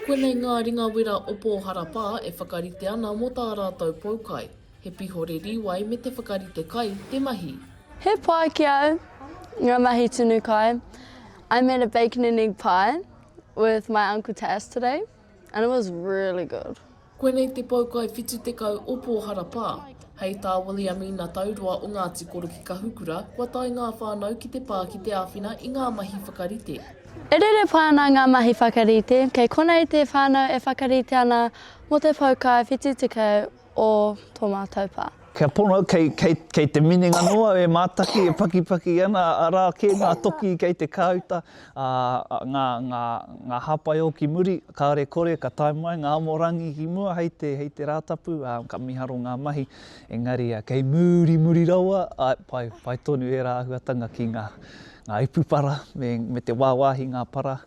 Konei ngā ringa wera o Pōharapā e whakarite ana mō tā rātou poukai, he pihore rīwai me te whakarite kai, te mahi. He pai ki au nga mahi tunu kai, I made a bacon and egg pie with my uncle Tas today and it was really good. Koinei te pou kai whitu tekau o Pōhara pā. Hei tā Williamina Tauroa o Ngāti Koro ki Kahukura, kua tae ngā whānau ki te pā ki te āwhina i ngā mahi whakarite. E rere pai ana ngā mahi whakarite, kei konei te whānau e whakarite ana mō te pou kai whitu tekau o tō mātou pā. Kia pono, kei, kei, kei te minenga noa e mātaki, e pakipaki ana, arā kē ngā toki kei te kāuta, ā, ngā, ngā, ngā hāpai o ki muri, kāore kore ka tae mai ngā amorangi ki mua hei te, hei te Rātapu, ā, ka miharo ngā mahi, engari, ā, kei muri, muri rawa, āe, pai, pai tonu ērā āhuatanga ki ngā, ngā ipu para me, me te wāwāhi ngā para.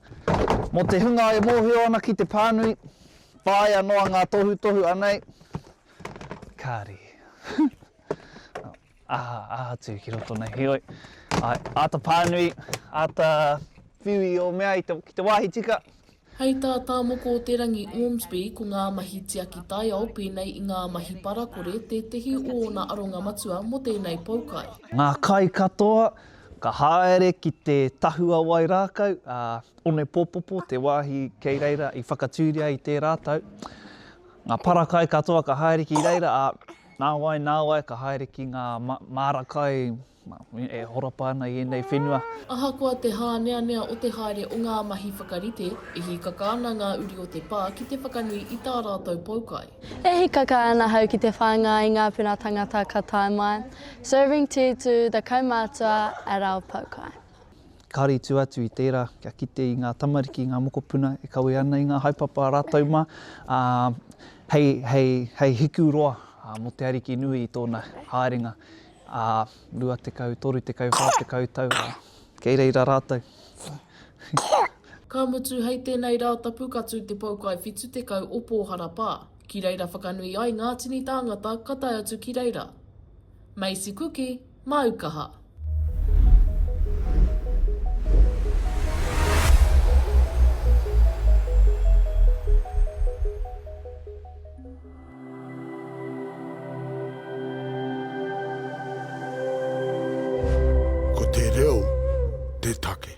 Mō te hunga e mōhio ana ki te pānui, whāia noa ngā tohutohu anei, Kāre. aha, aha atu ki roto nei. Heoi, ai, āta pānui, āta whiu i o mea i te, ki te wāhi tika. Hei tā Tā Moko o te Rangi Ormsby, ko ngā mahi tiaki taiao pēnei i ngā mahi parakore tētehi o ōna aronga matua mō tēnei poukai. Ngā kai katoa, ka haere ki te tahua wai rākau a Onepōpopo, te wāhi kei reira i whakatūria i tērā tau. Ngā para kai katoa ka haere ki reira, ā, nāwai, nāwai ka haere ki ngā māra kai e horapa ana i ēnei whenua. Ahakoa te hāneanea o te haere o ngā mahi whakarite, e hīkaka ana ngā uri o te pā ki te whakanui i tā rātou poukai. E hīkaka ana ahau ki te whāngai i ngā puna tangata ka tae mai, serving tea to the kaumātua at our poukai. Ka rītu atu i tērā kia kite i ngā tamariki, i ngā mokopuna e kawe ana i ngā haepapa rātou mā, ā, hei, hei, hei hiku roa mō te Ariki nui i tōna haerenga ā 20, 30, 40 tau, ā, kei reira rātou. Ka mutu, hei tēnei Rātapu ka tū te Poukai 70 o Pōharapa ki reira whakanui ai ngā tini tāngata ka tae atu ki reira. Macy Kuki. Māu kaha. Ko te reo te take.